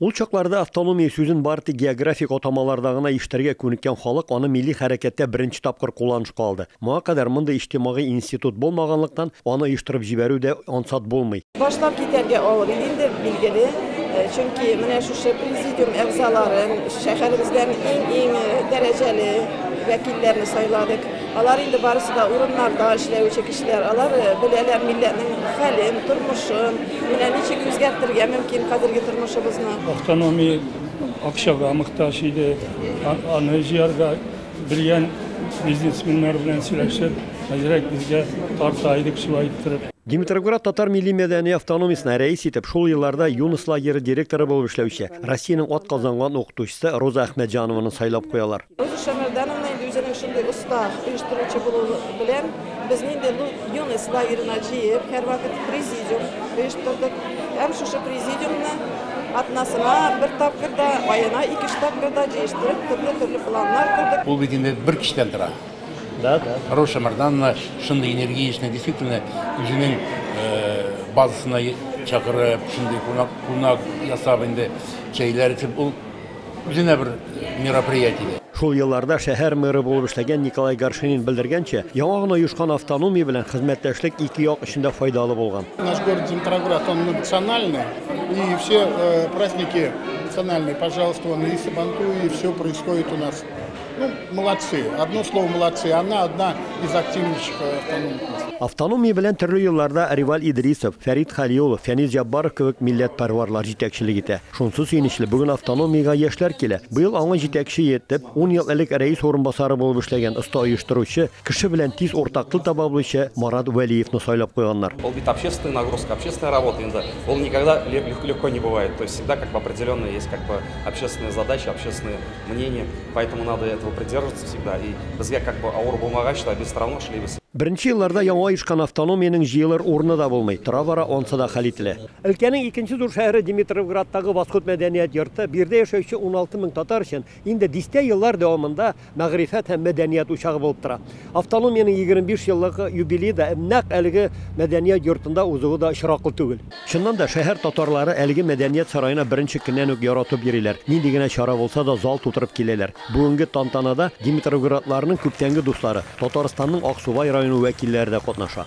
Ул чакларда автономия сүзен бары тик географик атамаларда гына ишетергә күнеккән халык аны милли хәрәкәттә беренче тапкыр кулланышка алды. Моңа кадәр мондый иҗтимагый институт булмаганлыктан, аны оештырып җибәрү дә ансат булмый. Башлап китәргә авыр иде инде, билгеле, чөнки менә шушы президиум әгъзаларын, шәһәребездән иң-иң дәрәҗәле вәкилләрне сайладык. Алар инде барысы да урыннарда эшләүче кешеләр, алар беләләр милләтнең хәлен, тормышын. Менә ничек үзгәртергә мөмкин хәзерге тормышыбызны? Автономия акчага мохтаҗ иде. Аны җыярга белгән бизнесменнар белән сөйләшеп, әзрәк безгә тарта идек шулай иттереп. Димитревград татар милли-мәдәни автономиясенә рәис итеп шул елларда Юныс лагере директоры булып эшләүче, Россиянең атказанган укытучысы Роза Әхмәтҗанованы сайлап куялар. Роза Шәмәрдановна инде үзенең шундый оста оештыручы булуы белән без нинди юность лагерена җыеп, һәрвакыт президиум оештырдык. Һәм шушы президиумны атнасына бер тапкыр да, аена ике-өч тапкыр да җыештырып, төрле-төрле планнар курдык. Ул бит инде бер кичтән тора. Да, да. Роза Шәмәрдановна шундый энергичный, действительно, үзенең базасына чакырып, шундый кунак ясап инде, чәйләр итеп, ул Үзенә бер мероприятие. Шул елларда шәһәр мэры булып эшләгән Николай Горшенин белдергәнчә, яңа гына оешкан автономия белән хезмәттәшлек ике як өчен дә файдалы булган. Наш город Димитроград, он национальный, и все э, праздники национальные, пожалуйста, вон и Сабантуй, и все происходит у нас. Ну, молодцы, одно слово молодцы, она одна из активнейших э, автономиков. Автономия белән төрле елларда Реваль Идрисов, Фәрит Халиулов, Фәнил Җаббаров кебек милләтпәрварлар җитәкчелек итә. Шунсы сөенечле, бүген автономиягә яшьләр килә. Быел аңа җитәкче итеп, ун ел элек рәис урынбасары булып эшләгән, оста оештыручы, кеше белән тиз уртак тел таба белүче Марат Вәлиевны сайлап куйганнар. Ул бит общественная нагрузка, общественная работа инде. Ул никогда легко не бывает. То есть всегда как бы определенные есть как бы общественные задачи, общественные мнения. Поэтому надо этого придерживаться всегда. И безгә как бы авыр булмагач та, без все равно эшлибез. Беренче елларда яңа оешкан автономиянең җыелыр урыны да булмый, тора-бара ансы да хәл ителә. Өлкәнең икенче зур шәһәре Димитровградтагы Восход мәдәният йорты биредә яшәүче 16 мең татар өчен инде дистә еллар дәвамында мәгърифәт һәм мәдәният учагы булып тора. Автономиянең 25 еллык юбилее да нәкъ әлеге мәдәният йортында узуы да очраклы түгел. Чыннан да, шәһәр татарлары әлеге мәдәният сараена беренче көннән үк яратып йөриләр, нинди генә чара булса да зал тутырып киләләр. Бүгенге тантанада димитровградларның күптәнге дуслары, Татарстанның Аксубай районы вәкилләре дә катнаша.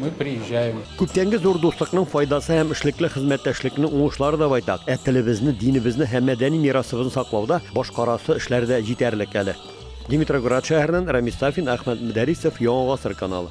Мы приезжаем. Күптәнге зур дуслыкның файдасы һәм эшлекле хезмәттәшлекнең уңышлары да байтак. Ә телебезне, динебезне һәм мәдәни мирасыбызны саклауда башкарасы эшләр дә җитәрлек әле. Димитроград шәһәреннән Рамис Сафин, Әхмәт Мөдәрисов, Яңа гасыр каналы.